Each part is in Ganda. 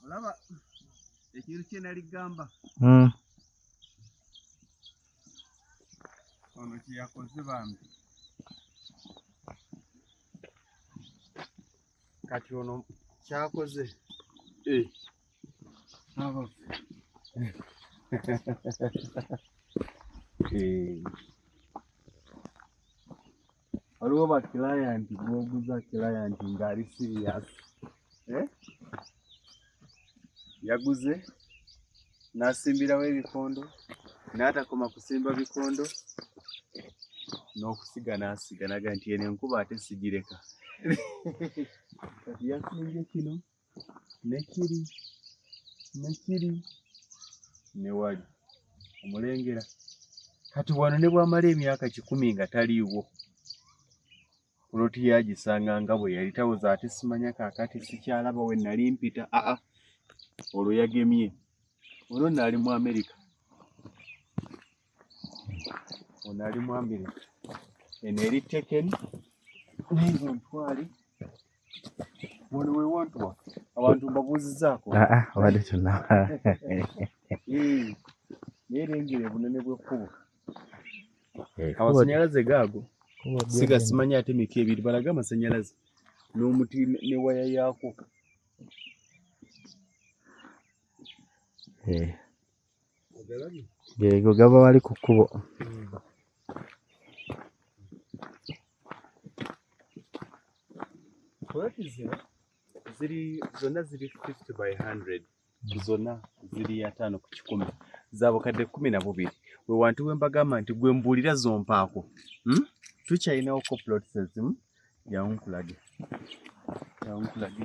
olaba ekintu kye nali gamba hmm. ono kye yakoze bambi kati ono kyakoze eh. abaffe eh. waliwo ba client gwoguza client ngaali serious eh? yaguze nasimbirawo ebikondo natakoma kusimba bikondo n'okusiga n'asiga naga nti eno enkuba ate sigireka kati yasimbye kino ne kiri ne kiri ne wali omulengera kati wano ne bwamala emyaka kikumi nga taliiwo kuloti yagisanga nga bwe yali tawoza ate simanya kakati sikyalaba we nali mpita aa olwo yagemye olwo nali mu amerika ono ali mwambire eno eri tekeni naezo ntwale wano wewantu wa abantu mbabuuzizaako ah, ah, obadde tunaba naye lengera obunene bwekkubo eh, amasanyalaze gaago siga simanyi ate mika ebiri balaga amasanyalaze n'omuti ne waya yaako eh. geego gaba wali ku kkubo poloti zino ziri zonna ziri 50 by 100 zonna ziri ataano ku kikumi zabukadde kumi na bubiri we wantu we mbagamba nti gwe mbuulira zompaako hmm? tukyalinawo ko plots ezimu yankulage yankulage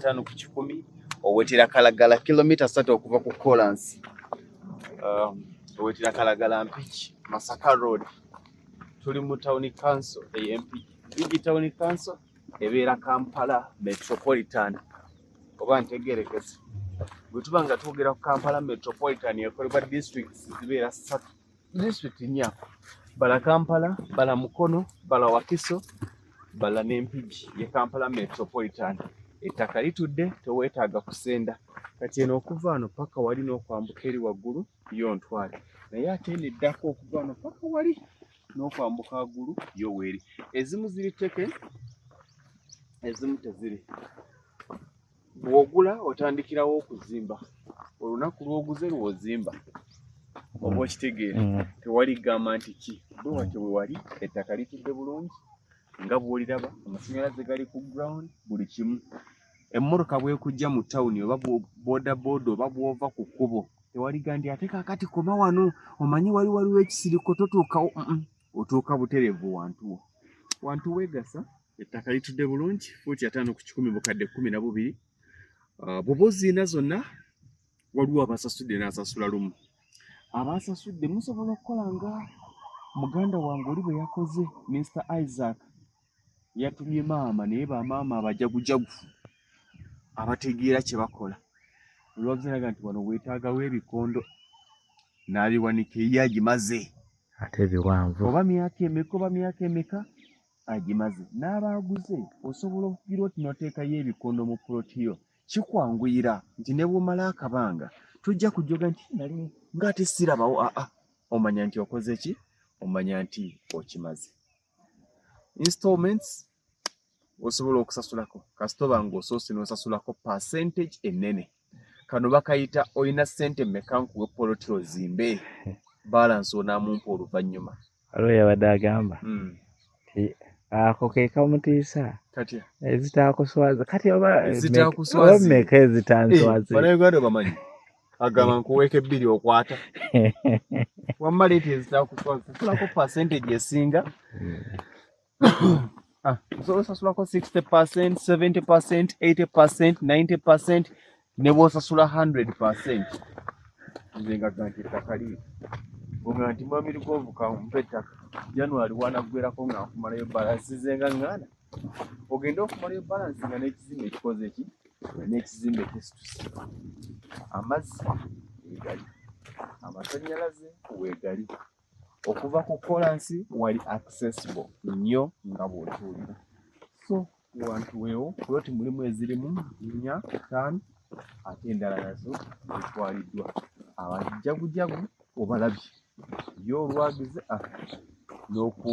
ataano ku kikumi owetera kalagala kilomita satu okuva ku kolansi um, owetera kalagala mpiki masaka road tuli mu tawuni kanso ey'empiki bigi tawuni kanso ebeera kampala metropolitan oba ntegerekese bwe tuba nga twogera ku kampala metropolitan ekolebwa district zibeera satu district nya bala kampala bala mukono bala wakiso bala n'empigi ye kampala metropolitan ettaka litudde teweetaaga kusenda kati eno okuva ano paka wali n'okwambuka eri waggulu yo ntwale naye ate eno eddako okuva ano paka wali n'okwambuka agulu yo weeri ezimu ziri teke ezimu teziri bw'ogula otandikirawo okuzimba olunaku lw'oguze lw'ozimba oba okitegeera mm. tewali gamba nti ki bwe watyo bwe wali ettaka litudde bulungi nga bw'oliraba amasannyalaze gali ku ground buli kimu emmotoka bwekujja mu tawuni oba bodaboda oba bwova ku kkubo tewaligambye ate kakati koma wano omanyi wali waliwo ekisiriko totuukawo otuuka buterevu wantuwo wantu wegasa ettaka litudde bulungi fuuti ataano ku kikumi bukadde kumi na bubiri ah, bwoba oziina zonna waliwo abasasudde n'asasula lumu abaasasudde musobola okukola nga muganda wange oli bwe yakoze minisita isaac yatumye maama naye bamaama abajagujagu abategeera kye bakola olwabuziraga nti wano weetaagawo ebikondo n'abiwanika eyo agimaze ate biwanvu oba myaka emeka oba myaka emeka agimaze n'abaaguze osobola okugira oti noteekayo ebikondo mu poloti yo kikwanguyira nti ne bwomala akabanga tojja kujoga nti nali ng'ate sirabawo aa omanya nti okoze ki omanya nti okimaze installments osobola okusasulako kasita oba ng'osoose n'osasulako percentage ennene kano bakayita olina ssente mmeka nkuwe poloti ozimbe balansi onaamumpa oluvannyuma waliwo yabadde agamba hmm. ti ako ke kamutiisa ezitaakuswaza kati oba mmeka ezitanswaza banauganda bamanyi agamba nkuweeka ebbiri okwata wamma leeta ezitakusasulako percentage esinga ah, osobola osasulako 60 percent 70 percent 80 percent 90 percent ne bwosasula 100 percent nze nga ganti ettaka liri nga nti mwami lugonvuka mpa ettaka january wanaggwerako nga nkumalayo balansize nga nganda ogende okumala ebalansi nga n'ekizimbe ekikoze ki n'ekizimbe kisituse amazzi wegali amasanyalaze wegali okuva ku kolansi wali accessible nnyo nga bw'otuulira so wantu weewo kuloti mulimu ezirimu nnya ttaano ate endala nazo zitwaliddwa abajagujagu obalabye ye olwagize ah, n'oku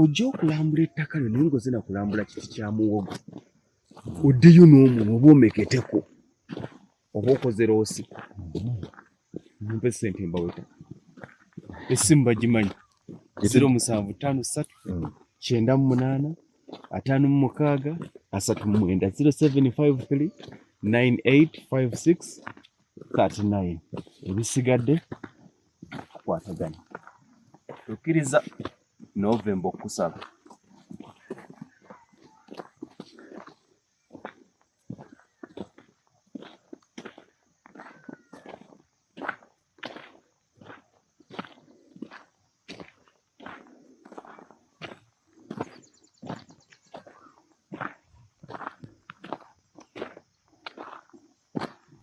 ojja okulambula ettaka lyo naye ngaoze nakulambula kiti kya muwogo oddeyo n'omuno oba omeketeko oba okoze loosi mumpe sente mbaweta esimu bagimanyi ziro musanvu ttaano ssatu mm. kyenda mu munaana ataano mu mukaaga asatu mu mwenda ziro seven five three nine eight five six thirty nine ebisigadde tukwatagana tukkiriza novemba okukusaba